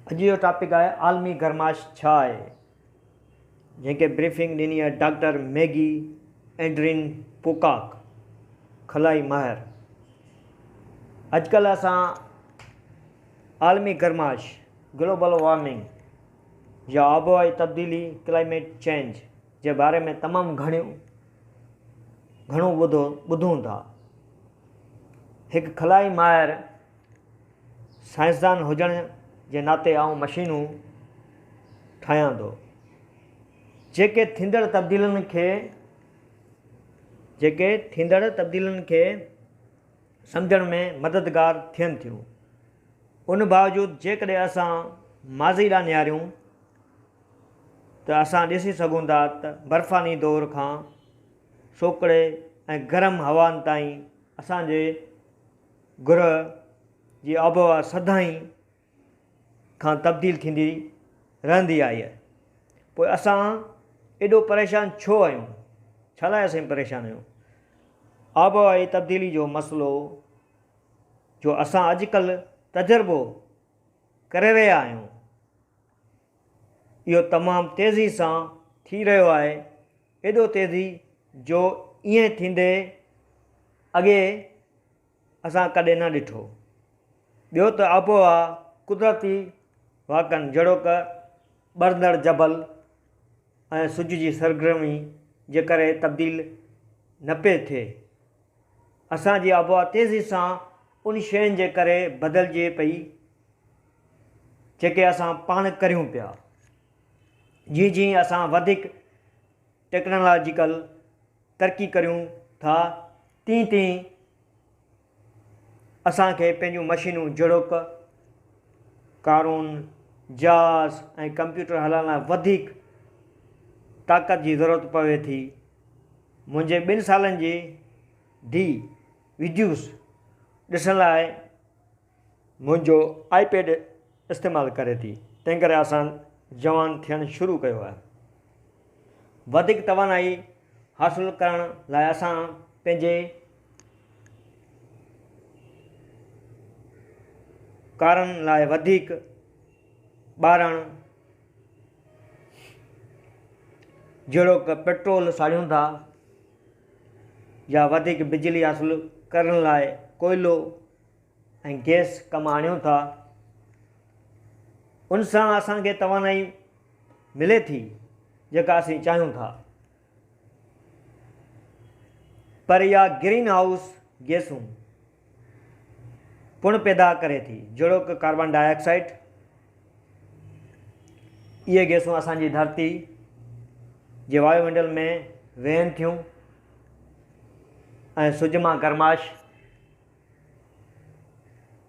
اڄ جو ٽاپڪ آهي عالمي گرمائش ڇا آهي؟ جنهن کي بريفنگ ڏني آهي ڊاڪٽر ميگي ايڊرين پوڪاڪ خلائي ماهر. اڄڪلهه اسان عالمي گرمائش، گلوبل وارمنگ يا آبهوائي تبديلي، ڪلائميٽ چينج، جي باري ۾ تمام گهڻيون گهڻو ٻڌو ٻڌون ٿا. هڪ خلائي ماهر سائنسدان هجڻ جي ناتي آئون مشينون ٺاهيان ٿو جيڪي ٿيندڙ تبديلين کي جيڪي ٿيندڙ تبديلين کي سمجهڻ ۾ مددگار ٿين ٿيون ان باوجود جيڪڏهن اسان ماضي ڏانهن نهاريون ته اسان ڏسي سگهون ٿا ته برفاني دور کان سوڪڙي ۽ گرم هوائن تائين اسانجي گرهه جي آبهوا سدائين کان تبديل ٿيندي رهندي آئي آهي. پوء اسان ايڏو پريشان ڇو آهيون؟ ڇا لاء اسين پريشان آهيون؟ آبهوائي تبديلي جو مسئلو جو اسان اڄڪلهه تجربو ڪري رهيا آهيون، اهو تمام تيزي سان ٿي رهيو آهي. ايڏو تيزي جو ائين ٿيندي اڳي اسان ڪڏهن نه ڏٺو. ٻيو ته آبهوا قدرتي واقعن جهڙوڪ ٻرندڙ جبل ۽ سج جي سرگرمي جي ڪري تبديل نه پئي ٿئي. اسان جي آبهوا تيزي سان ان شين جي ڪري بدلجي پئي جيڪي اسان پاڻ ڪريون پيا. جيئن جيئن اسان وڌيڪ ٽيڪنالاجيڪل ترقي ڪريون ٿا تيئن تيئن اسان کي پنهنجون مشينون جهڙوڪ ڪارون، جهاز ۽ ڪمپيوٽر هلائڻ لاء وڌيڪ طاقت جي ضرورت پوي ٿي. منهنجي ٻن سالن جي ڌيء ويڊيوز ڏسڻ لاء منهنجو آئي پيڊ استعمال ڪري ٿي تنهنڪري آسان جوان ٿيڻ شروع ڪيو آهي وڌيڪ توانائي حاصل ڪرڻ لاء اسان پنهنجي ڪارن لاء وڌيڪ ٻارڻ جهڙوڪ پيٽرول ساڙيون ٿا يا وڌيڪ بجلي حاصل ڪرڻ لاء ڪوئلو ۽ گئس ڪم آڻيون ٿا ان سان اسان کي توانائي ملي ٿي جيڪا اسين چاهيون ٿا پر اها گرين هائوس گيسون پڻ پيدا ڪري ٿي جهڙوڪ ڪاربان ڊاء آڪسائيڊ اهي گيسون اسان جي ڌرتي جي وايو منڊل ۾ ويهن ٿيون ۽ سج مان گرماش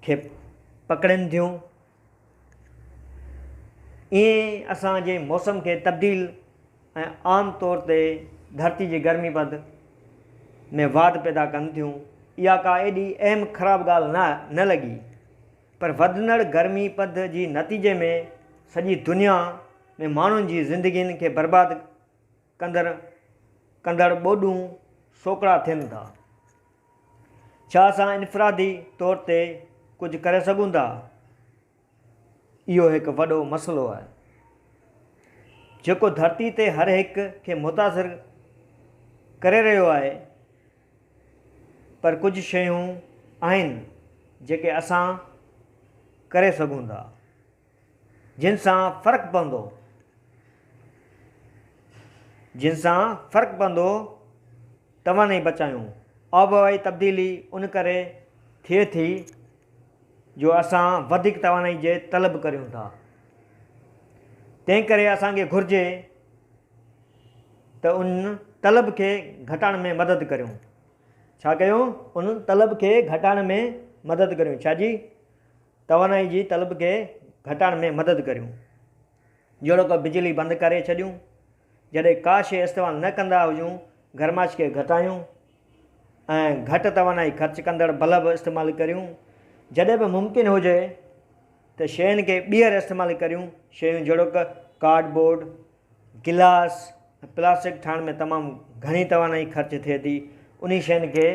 کي پڪڙين ٿيون. ائين اسان جي موسم کي تبديل ۽ عام طور تي ڌرتي جي گرمي پد ۾ واڌ پيدا ڪن ٿيون. اها ڪا ايڏي اهم خراب ڳالهه نه لڳي پر وڌندڙ گرمي پد جي نتيجي ۾ سڄي دنيا ۾ ماڻهن جي زندگين کي برباد ڪندڙ ڪندڙ ٻوڏون سوڪڙا ٿين ٿا. ڇا اسان انفرادي طور تي ڪجهه ڪري سگهون ٿا؟ اهو هڪ وڏو مسئلو آهي، جيڪو ڌرتي تي هر هڪ کي متاثر ڪري رهيو آهي، پر ڪجهه شيون آهن جيڪي اسان ڪري سگهون ٿا. جن سان فرق پوندو، جن سان فرق پوندو توانائي بچايون. آبهوائي تبديلي ان ڪري ٿئي ٿي جو اسان وڌيڪ توانائي جي طلب ڪريون ٿا. تنهنڪري اسان کي گهرجي ته ان طلب کي گهٽائڻ ۾ مدد ڪريون. ڇا ڪيون؟ ان طلب کي گهٽائڻ ۾ مدد ڪريون. ڇا جي؟ توانائي جي طلب کي گهٽائڻ ۾ مدد ڪريون، جهڙوڪ بجلي بند ڪري ڇڏيون، جڏهن ڪا شيء استعمال نه ڪندا هجون، گرمائش کي گهٽايون ۽ گهٽ توانائي خرچ ڪندڙ بلب استعمال ڪريون، جڏهن به ممڪن هجي ته شين کي ٻيهر استعمال ڪريون، شيون جهڙوڪ ڪارڊ بورڊ، گلاس ۽ پلاسٽڪ ٺاهڻ ۾ تمام گهڻي توانائي خرچ ٿئي ٿي انهي شين کي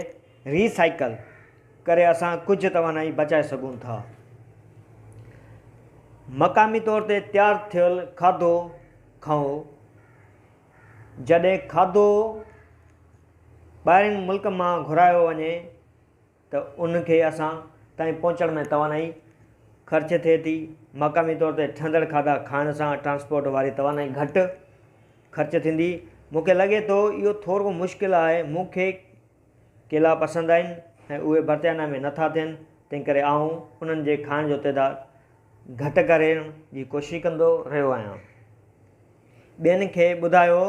ري سائيڪل ڪري اسان ڪجهه توانائي بچائي سگهون ٿا مقامي طور تي تيار ٿيل کاڌو کائو جڏهن کاڌو ٻاهرين ملڪ مان گهرايو وڃي ته ان کي اسان تائين پهچڻ ۾ توانائي خرچ ٿئي ٿي، مقامي طور تي ٺهندڙ کاڌا کائڻ سان ٽرانسپورٽ واري توانائي گهٽ خرچ ٿيندي، مون کي لڳي ٿو اهو ٿورو مشڪل آهي، مون کي ڪيلا پسند آهن ۽ اهي برطانيا ۾ نٿا ٿين، تنهنڪري آئون انهن جي کائڻ جو تعداد گهٽ ڪرڻ جي ڪوشش ڪندو رهيو آهيان. ٻين کي ٻڌايو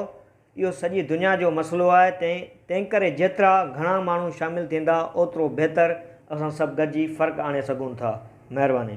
اهو سڄي دنيا جو مسئلو آهي تنهن تنهنڪري جيترا گهڻا ماڻهو شامل ٿيندا اوترو بهتر اسان سڀ گڏجي فرق آڻي سگهون ٿا مهرباني.